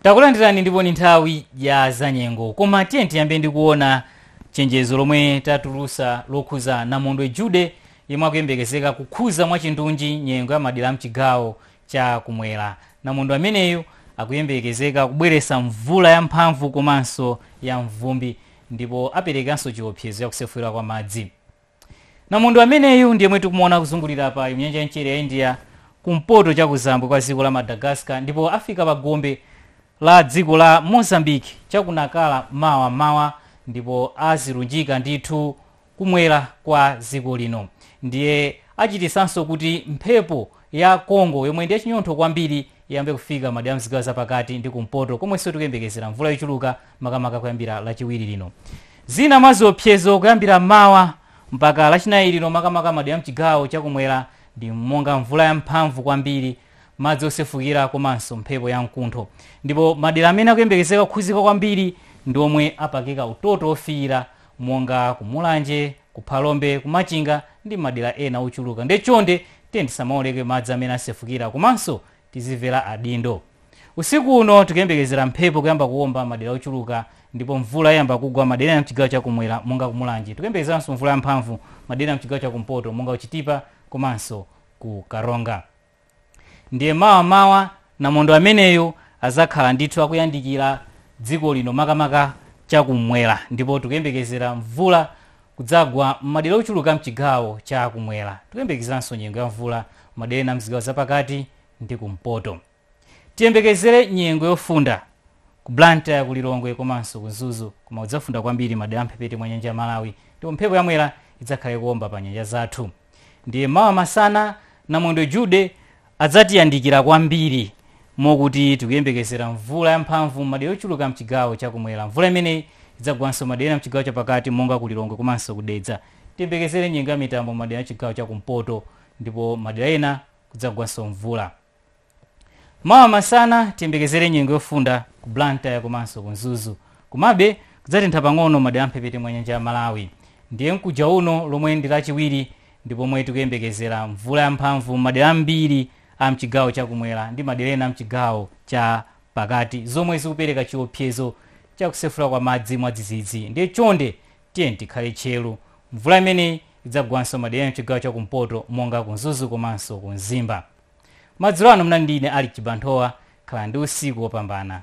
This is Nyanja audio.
Takulandirani ndipo ni nthawi ya zanyengo koma tiyeni tiyambe ndi kuona chenjezo lomwe tatulusa lokhuza Namondwe Jude yemwe akuyembekezeka kukhuza mwachindunji nyengo ya madera amchigawo cha kumwera. Namondwe ameneyu akuyembekezeka kubweresa mvula ya mphamvu komanso ya mvumbi ndipo aperekanso chiopsezo cha kusefukira kwa madzi. Namondwe ameneyu ndi yemwe tikumuona akuzungulira apa m'nyanja ya mchere ya India kumpoto chakuzambwe kwa dziko la Madagascar ndipo afika pa gombe la dziko la Mozambique cha ku Nacala mawa m'mawa ndipo azilunjika ndithu kumwera kwa dziko lino ndiye achititsanso kuti mphepo ya Congo yomwe ndi yachinyontho kwambiri iyambe kufika madera a mzigawo zapakati ndi kumpoto komwenso tikuyembekezera mvula yochuluka makamaka kuyambira lachiwiri lino zina mwa ziopsezo kuyambira mawa mpaka lachinayi lino makamaka madera mchigawo chakumwera ndi monga mvula yamphamvu kwambiri madzi osefukira komanso mphepo ya mkuntho ndipo madera amene akuyembekezeka kukhuzika kwambiri ndi omwe apakika utoto ofiira monga kumulanje ku phalombe, ku machinga ndi madera ena ochuluka nde chonde tiyeni tisamaoleke madzi amene asefukira komanso tizimvera adindo. Usiku uno tikuyembekezera mphepo kuyamba kuomba madera ochuluka ndipo mvula iyamba kugwa madera ena mchigawo cha kumwera monga ku mulanje. Tikuyembekezeranso mvula yamphamvu madera ena mchigawo cha kumpoto monga ku chitipa komanso ku karonga. Ndiye mawa m'mawa namondwe ameneyu adzakhala ndithu akuyandikira dziko lino makamaka cha kumwera ndipo tikuyembekezera mvula kudzagwa m'madera ochuluka a m'chigawo cha kumwera. Tikuyembekezeranso nyengo ya mvula m'madera ena a m'zigawo zapakati ndi kumpoto. Tiyembekezere nyengo yofunda ku Blantyre, ku Lilongwe komanso ku Mzuzu koma kudzafunda kwambiri madera a m'mphepete mwa nyanja ya Malawi ndipo mphepo ya Mwera idzakhala ikuwomba pa nyanja zathu. Ndiye mawa masana, namondwe Jude adzatiyandikira kwambiri mokuti tikuyembekezera mvula yamphamvu m'madera ochuluka am'chigawo cha kumwera. Mvula imeneyi idzagwanso m'madera ena am'chigawo chapakati monga ku Lilongwe komanso ku Dedza. Tiyembekezere nyengo ya mitambo m'madera am'chigawo cha kumpoto ndipo m'madera ena kudzagwanso mvula. Mawa masana tiyembekezere nyengo yofunda ku Blantyre komanso ku Mzuzu. Komabe kudzatentha pang'ono madera amphepete mwa nyanja ya Malawi. Ndiye mkuja uno lomwe ndi lachiwiri ndi pomwe tikuyembekezera mvula yamphamvu m'madera ambiri a mchigawo cha kumwera ndi madera ena a mchigawo cha pakati zomwe zikupereka chiopsezo cha kusefula kwa madzi mwadzidzidzi. Ndiye chonde tiyeni tikhale tcheru. Mvula imeneyi idzagwanso madera ena mchigawo cha kumpoto monga ku Mzuzu komanso ku Mzimba. Madzulo ano munali ndi ine Alick Chibanthowa. Khalani ndi usiku wopambana.